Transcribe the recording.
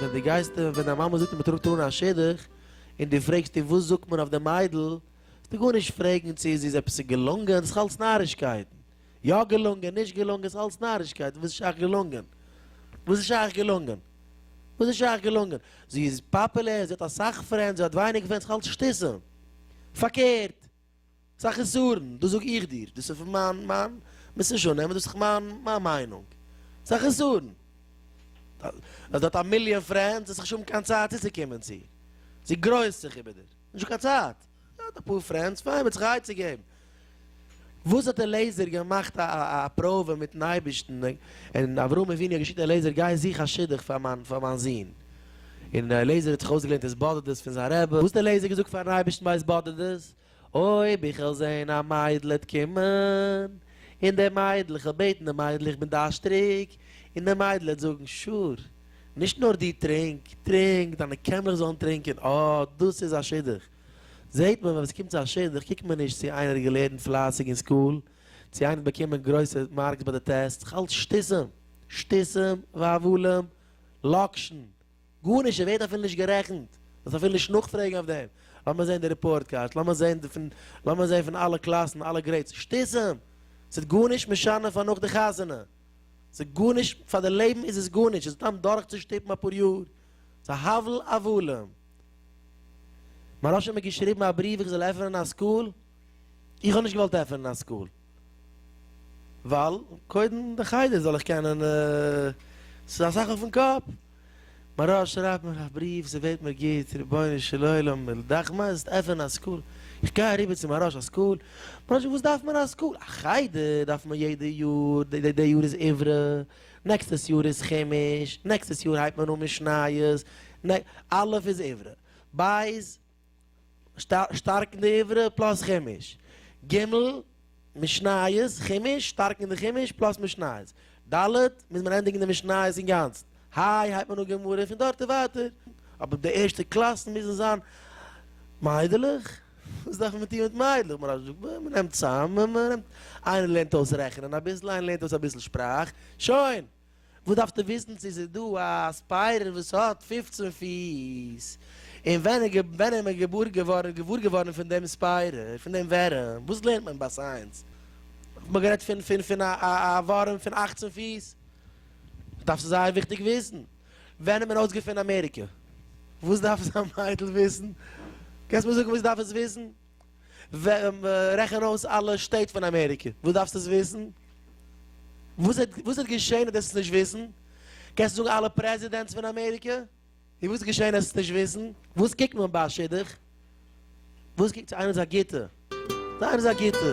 ווען דו גייסט און ווען דיין מאמע זאגט און מען טראגט אהן א שידוך און דו פרעגסט איר וואס זאגט מען אויף די מיידל, זאלסטו גארנישט פרעגן צו זי איז עפעס געלונגען, דאס איז אלס נארישקייטן. יא געלונגען, נישט געלונגען, ס'איז אלס נארישקייט, וואס איז שייך געלונגען? וואס איז שייך געלונגען? וואס איז שייך געלונגען? זי איז פאפולער, זי האט אסאך פרענדס, זי האט ווייניג פרענדס, ס'איז אלס שטיסען. פארקערט! ס'איז א חסרון, דאס זאג איך דיר, דאס איז פון מיין, מיין, מוזט נישט אננעמען, דאס איז מיין, מיין מיינונג. ס'איז א חסרון. אז דו האט א מיליאן פרענדס, האסט נישט האבן קיין צייט צוצוקומען צו איר. זי גרויסט זיך איבער דיר. נישט האבן קיין צייט. ער האט אפאר פרענדס פאר אים ער האט זיך א עצה געבן. וואס האט אליעזר געמאכט א פראווע מיטן אייבערשטן און אברהם אבינו האט געשיקט אליעזר גיי זוך א שידוך פאר מיין פאר מיין זון. און אליעזר האט זיך אויסגעלערנט התבודדות פון זיין רבי. וואס האט אליעזר געזאגט פארן אייבערשטן ביי התבודדות, אויב איך וועל זען א מיידל העט קומען און די מיידל איך וועל בעטן די מיידל איך בין דארשטריג און די מיידל העט זאגן שור. נישט נאר דו טרינק, טרינק, דיינע קעמערעס זאלן טרינקען, אה, דאס איז א שידוך. זעהט מען ווען עס קומט צו א שידוך קוקט מען נישט צו איינער האט געלערנט פלייסיג אין סקול, צו איינער האט באקומען גרויסע מארקס ביי די טעסטס, כ'האלט שטותים, שטותים והבלים, לאקשן, גארנישט, עס ווערט אפילו נישט גערעכנט, זאלסט אפילו נישט נאכפרעגן אויף דעם, לאמיר זעהן די ריפארט קארדס, לאמיר זעהן די פון, לאמיר זעהן פון אלע קלאסן אלע גרעידס, שטותים! ס'איז גארנישט משנה פאר נאך די חתונה. ס'איז גארנישט, פאר די לעבן איז עס גארנישט, עס דאן דורכצושטופן אפאר יאר, ס'איז הבל הבלים. מהרש א האט מיר געשריבן א בריוו איך זאל עפענען א סקול, איך האב נישט געוואלט עפענען א סקול, ווייל קודם די חדר זאל איך קענען, ס'איז אסאך אויפן קאפ, מרה שרייבט מיך א בריוו, זי בעט מיר גוט, רבונו של עולם, מילא דאך מיינסט עפענען א סקול, איך גיי אריבער צו מהרא ש א סקול, מהרא ש וואס דארף מען א סקול, א חדר דארף מען יעדע יאר, די די יאר איז עברה, נעקסטעס יאר איז חומש, נעקסטעס יאר הייבט מען אן משניות, נעק, א' איז עברה, בית. שטארקן די עברה פלאס חומש. ג. משניות, חומש, שטארקן די חומש פלאס משניות. ד. מוז מען ענדיגן די משניות אינגאנצן. ה. הייבט מען אן גמרא און פון דארט און ווייטער. אבער די ערשטע קלאסן מוזן זיין מיידלעך? וואס דארף מען טון מיט מיידלעך? מוהרא ש זאגט, מען נעמט צאם, איינער לערנט אויס רעכענען אביסל, איינער לערנט אויס אביסל שפראך, שוין! וואס דארפסטו וויסן צו ס'איז דא א ספיידער וואס האט פֿופֿצן פיס? און ווען איז מען געוואר געווארן פון דעם ספיידער, פון דעם ווערים? וואס לערנט מען ביי סייענס? האט מען גערעדט פון א ווארים פון אַכצן פיס? דארפסטו זייער וויכטיג וויסן. ווען האט מען אויסגעפונען אמעריקע? וואס דארף עס א מיידל וויסן? קענסט מיר זאגן וואס זי דארף עס וויסן? רעכן אויס אלע שטעט פון אמעריקע, וואס דארפסטו עס וויסן? וואס וואס וועט געשען אז דו עסט עס נישט וויסן? קענסטו זאגן אלע פרעזידענטס פון אמעריקע? און וואס וועט געשען אז עסט עס נישט וויסן? וואס קוקט מען ביי א שידוך? וואס קוקט צו איינער איז א גוטע? צו איינער איז א גוטע?